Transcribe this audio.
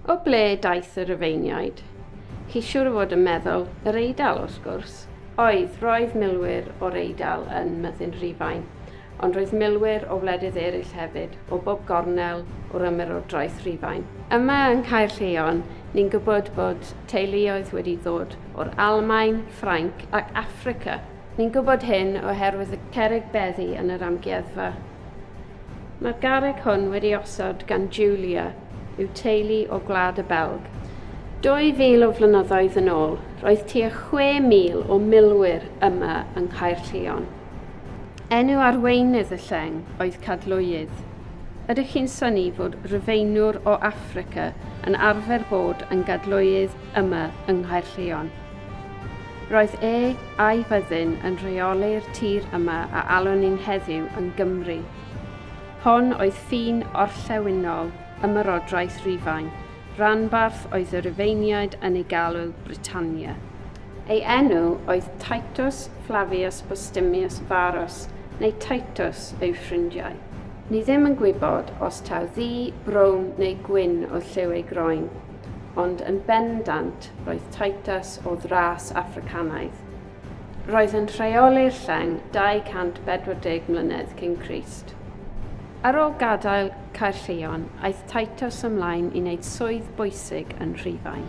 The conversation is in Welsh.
O ble daeth y Rufeiniaid? Chi siŵr o fod yn meddwl yr Eidal, wrth gwrs. Oedd, roedd milwyr o'r Eidal yn myddin Rhufain, ond roedd milwyr o wledydd eraill hefyd, o bob gornel o'r ymerodraeth Rhufain. Yma yng Nghaerlleon, ni'n gwybod bod teuluoedd wedi ddod o'r Almaen, Ffrainc ac Affrica. Ni'n gwybod hyn oherwydd y cerrig beddi yn yr amgueddfa. Mae'r garreg hwn wedi osod gan Julia yw teulu o Gwlad y Belg. 2,000 o flynyddoedd yn ôl, roedd tua 6,000 o milwyr yma yng Nghaerllion. Enw arweinydd y lleng oedd Cadlwydd. Ydych chi'n syni fod Rufeinwr o Affrica yn arfer bod yn Gadlwydd yma yng Nghaerllion? Roedd e a'i fyddin yn rheoli'r tir yma a alwn ni'n heddiw yn Gymru. Hon oedd ffin orllewinol Ymerodraeth Rufain, ranbarth oedd y Rufeiniaid yn ei galw Britannia. Ei enw oedd Titus Flavius Postumius Varus, neu Titus yw ffrindiau. Ni ddim yn gwybod os taw ddu, brown neu gwyn oedd lliw ei groen, ond yn bendant Roedd Titus o ddras Affricanaidd. Roedd yn rheoli'r lleng 240 mlynedd cyn Crist. Ar ôl gadael Caerllion, aeth Titus ymlaen i wneud swydd bwysig yn Rhufain.